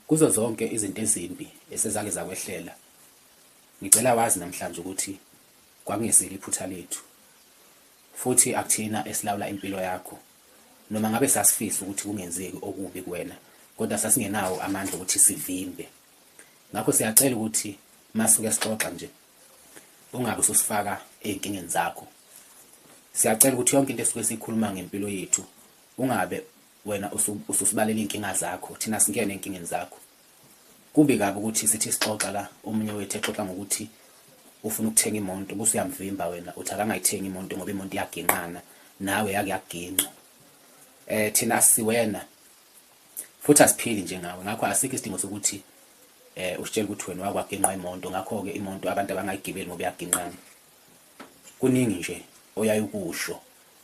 Kuzo zonke izinto ezimbi esezake zakwehlela, ngicela wazi namhlanje ukuthi kwakungesilo iphutha lethu, futhi akuthina esilawula impilo yakho. Noma ngabe sasifisa ukuthi kungenzeki okubi kuwena, kodwa sasingenawo amandla okuthi sivimbe. Ngakho siyacela ukuthi masuke sixoxa nje, ungabe ususifaka ezinkingeni zakho. Siyacela ukuthi yonke into esuke siyikhuluma ngempilo yethu ungabe Wena ususibalela iy'nkinga zakho thina singene ey'nkingeni zakho. Kubi kabi ukuthi sithi sixoxa la omunye wethu exoxa ngokuthi ufuna ukuthenga imonto bese uyamvimba wena uthi akangayithengi imonto ngoba imonto iyaginqana nawe yake yaginqa. Eh thina siwena futhi asiphili njengawe ngakho asikho isidingo sokuthi eh usitshela ukuthi wena wakwaginqa imonto ngakho-ke imonto abantu abangayigibeli ngoba iyaginqana. Kuningi nje oyaye ukusho.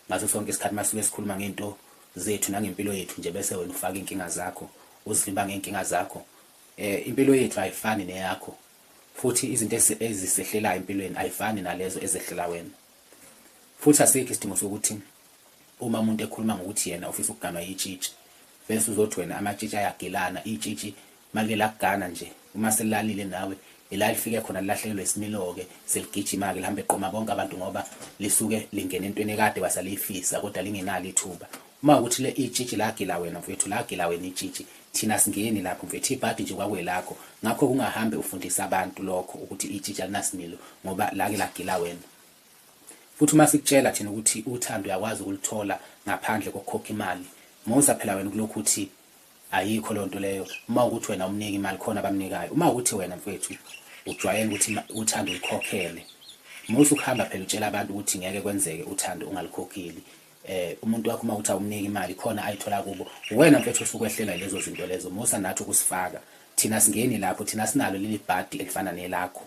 Ngaso sonke isikhathi masuke sikhuluma ngento zethu nangempilo yethu nje bese wena ufaka inkinga zakho uzivimba ngenkinga zakho eh impilo yethu ayifani neyakho futhi izinto ezisehlelayo empilweni ayifani nalezo ezehlela wena futhi asikho isidingo sokuthi uma umuntu ekhuluma ngokuthi yena ufisa ukuganwa yitshitshi Vese uzothi wena amatshitshi ayagilana itshitshi malike lakugana nje uma selilalile nawe ila lifike khona lilahlekelwe isimiloke seligijima-ke lihambe liqoma bonke abantu ngoba lisuke lingena entweni ekade wasaliyifisa kodwa lingenalo ithuba uma ukuthi le itshitshi lagila wena mfethu lagila wena itshitshi thina singeni lapho mfethu ibhadi nje kwakwelakho ngakho kungahambe ufundisa abantu lokho ukuthi itshitshi alinasimilo ngoba lake lagila wena Futhi uma sikutshela thina ukuthi uthando uyakwazi ukuluthola ngaphandle kokukhokha imali, musa phela wena ukulokhu uthi ayikho leyo nto leyo, uma wukuthi wena awumniki imali khona abamnikayo. Uma wukuthi wena mfwethu ujwayele ukuthi uthando ulukhokhele, musa ukuhamba phela utshela abantu ukuthi ngeke kwenzeke uthando ungalukhokheli. Eh, umuntu wakho uma wukuthi awumniki imali khona ayithola kubo, uwena mfwethu osuke ukwehlela yilezo zinto lezo, musa nathi ukusifaka. Thina asingeni lapho, thina asinalo leli bhadi elifana nelakho.